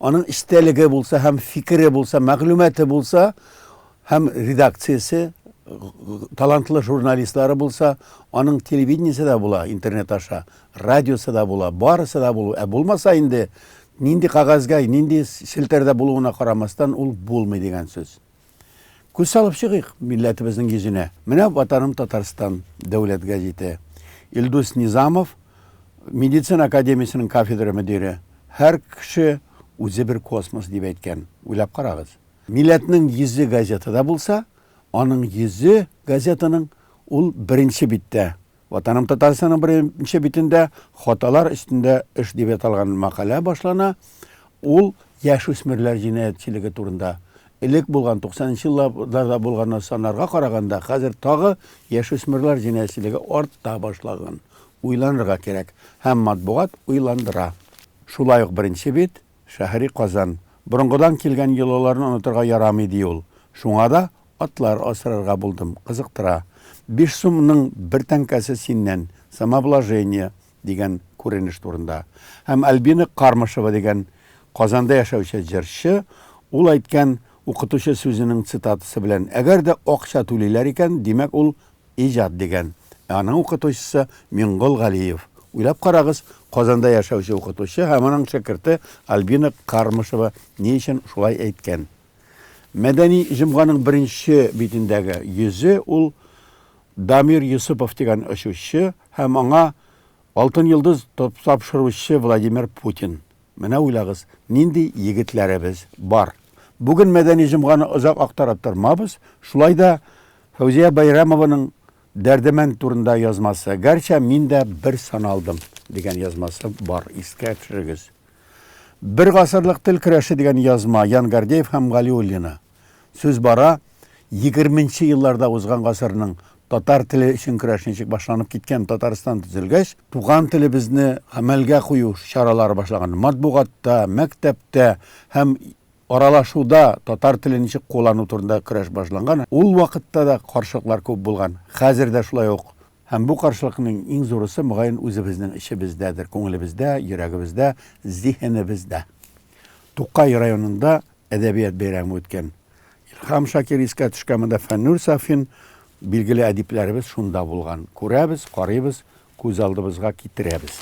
Аның эчтәлеге булса һәм фикере булса, мәгълүматы булса һәм редакциясе талантлы журналистлары булса, аның телевидениесе дә була интернет аша, радиосы да була, барысы да булу. Ә булмаса инде нинди кагазьгә, нинди челтәрдә булуына карамастан ул булмый дигән сүз. Күз салып чыгыйк милләтебезнең йөзенә. Менә Ватаным Татарстан дәүләт гәзите. Илдус Низамов, медицина академиясенең кафедра мөдире, Һәр кеше үзе бер космос, дип әйткән. Уйлап карагыз. Милләтнең йөзе газетада булса, аның йөзе газетаның ул беренче биттә Ватаным Татарстанның беренче битендә Хаталар өстендә эш дип аталган мәкалә башлана. Ул яшүсмерләр җинаятьчелеге турында. Элек булган, 90 нчы елларда булган саннарга караганда, хәзер тагы яшүсмерләр җинаятьчелеге арта башлаган. Уйланырга кирәк. Һәм матбугат уйландыра. Шулай ук беренче бит. Шәһри Казан. Борынгыдан килгән йолаларны онытырга ярамый, ди ул. Шуңа да атлар асрарга булдым, кызыктыра. Биш сум ның бер тәңкәсе синнән, самообложение, дигән күренеш турында. Һәм Альбина Кармышева дигән Казанда яшәүче җырчы, ул әйткән укытучы сүзенең цитатасы белән, Әгәр дә акча түлиләр икән, димәк, ул Иҗат дигән, ә аның укытучысы, Миңгол Галиев. Уйлап карагыз, Казанда яшәүче укытучы һәм аның шәкерте Альбина Кармышева ни өчен шулай әйткән? Мәдәни җомганың беренче битендәге йөзе ул Дамир Йосыпов дигән очучы һәм аңа Алтын йолдыз тапшыручы Владимир Путин. Менә уйлагыз, нинди егетләребез бар. Бүген мәдәни җомганы озак актарып тормабыз, шулай да Фәүзия Бәйрәмованың Дәрдемәнд турында язмасы, гәрчә мин дә бер саналдым, дигән язмасы бар, искә төшерегез. Бер гасырлык тел көрәше дигән язма, Ян Гордеев һәм Галиуллина. Сүз бара, егерменче елларда узган гасырның татар теле өчен көрәш ничек башланып киткән, Татарстан төзелгәч, туган телебезне гамәлгә кую чаралары башлаган. Матбугатта, мәктәптә һәм аралашуда татар телен ничек куллану турында көрәш башланган. Ул вакытта да каршылыклар күп булган. Хәзер дә шулай ук. Һәм бу каршылыкның иң зурысы, мөгаен, үзебезнең эчебездәдер, күңелебездә, йөрәгебездә, зиһенебездә. Тукай районында Әдәбият бәйрәме үткән. Илһам Шакир искә төшкән монда Фәннүр Сафин, билгеле әдипләребез шунда булган. Күрәбез, карыйбыз, күз алдыбызга китерәбез.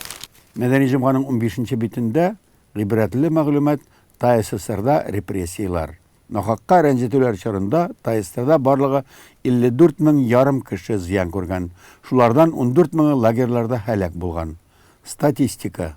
Мәдәни җомганың унбишенче битендә гыйбрәтле мәгълүмат ТАССРда репрессияләр, нахакка рәнҗетүләр чорында ТАССРда барлыгы 54 мең ярым кеше зыян күргән, шулардан ундүрт меңы лагерьларда һәлак булган. Статистика.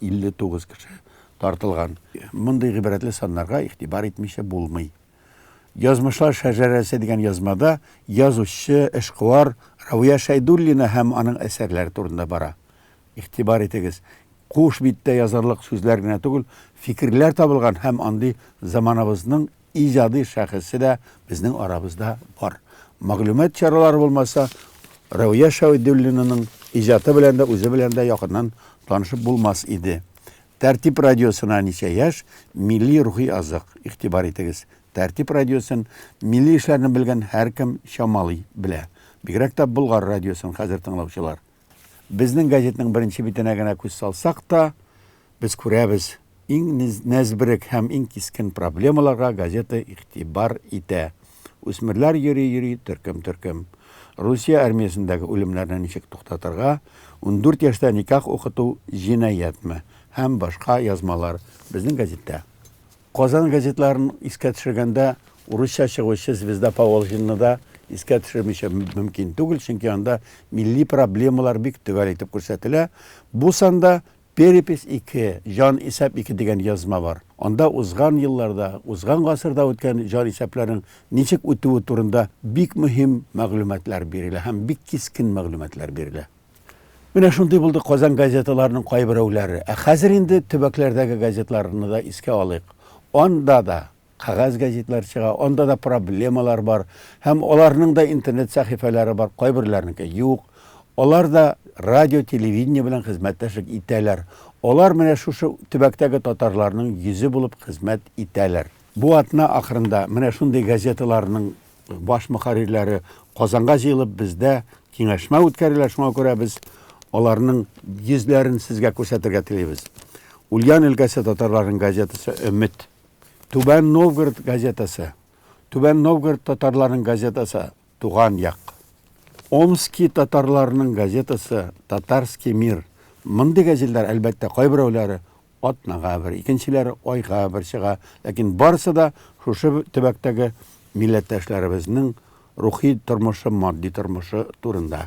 59 кеше тартылган. Мондый гыйбрәтле саннарга игътибар итмичә булмый. Язмышлар шәҗәрәсе дигән язмада язучы, эшкуар Равия Шәйдуллина һәм аның әсәрләре турында бара. Игътибар итегез, куш биттә язарлык сүзләр генә түгел, фикерләр табылган һәм андый заманабызның иҗади шәхесе дә безнең арабызда бар. Мәгълүмат чаралары булмаса, Рәүия Шәведуллинаның иҗаты белән дә, үзе белән дә якыннан танышып булмас иде. Тәртип радиосына ничә яшь, милли рухи азык. Игътибар итегез, Тәртип радиосын милли эшләрне белгән һәркем чамалый белә. Бигрәк тә Болгар радиосын хәзер тыңлаучылар. Безнең газетның беренче битенә генә күз салсак та, без күрәбез, иң нәзберек һәм иң кискен проблемаларга газета игътибар итә. Үсмерләр йөри-йөри төркем-төркем. Русия армиясендәге үлемнәрне ничек туктатырга, ундүрт яшьтә никах укыту җинаятьме һәм башка язмалар безнең газеттә. Казан газетларын искә төшергәндә урысча чыгучы Звезда Поволжьены да искә төшермичә мөмкин түгел, чөнки анда милли проблемалар бик төгәл итеп күрсәтелә. Бу санда Перепись ике, җан исәп ике дигән язма бар. Анда узган елларда, узган гасырда үткән җан исәпләрнең ничек үтүе турында бик мөһим мәгълүматлар бирелә һәм бик кискен мәгълүматлар бирелә. Менә шундый булды Казан газеталарының кайберәүләре. Ә хәзер инде төбәкләрдәге газетларны да искә алыйк. Анда да кәгазь газетлар чыга, анда да проблемалар бар. Һәм аларның да интернет сәхифәләре бар, кайберләренеке юк. Алар да радио, телевидение белән хезмәттәшлек итәләр. Алар менә шушы төбәктәге татарларның йөзе булып хезмәт итәләр. Бу атна ахырында менә шундый газеталарның баш мөхәррирләре Казанга җыелып, бездә киңәшмә үткәрәләр, шуңа күрә без аларның йөзләрен сезгә күрсәтергә телибез. Ульян өлкәсе татарларының газетасы Өмет, Түбән Новгород газетасы, Түбән Новгород татарларының газетасы Туган як, Омски татарларының газетасы Татарский мир. Мондый газетлар, әлбәттә, кайберәүләре атнага бер, икенчеләре айга бер чыга, ләкин барысы да шушы төбәктәге милләттәшләребезнең рухи тормышы, матди тормышы турында.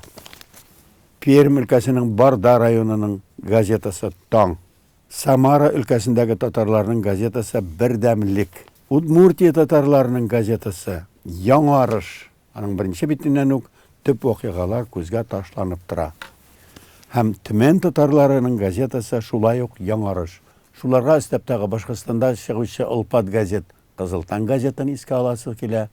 Пермь өлкәсенең Барда районының газетасы Таң, Самара өлкәсендәге татарларның газетасы Бердәмлек, Удмуртия татарларының газетасы Яңарыш, Аның беренче битеннән үк төп вакыйгалар күзгә ташланып тора. Һәм Төмән татарларының газетасы шулай ук яңарыш. Шуларга өстәп тагы Башкортстанда чыгучы олпат газет Кызыл таң газетын искә аласы килә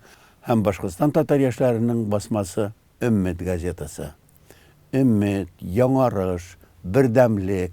һәм Башкортстан татар яшьләренең басмасы Өммет газетасы. Өммет, Яңарыш, Бердәмлек,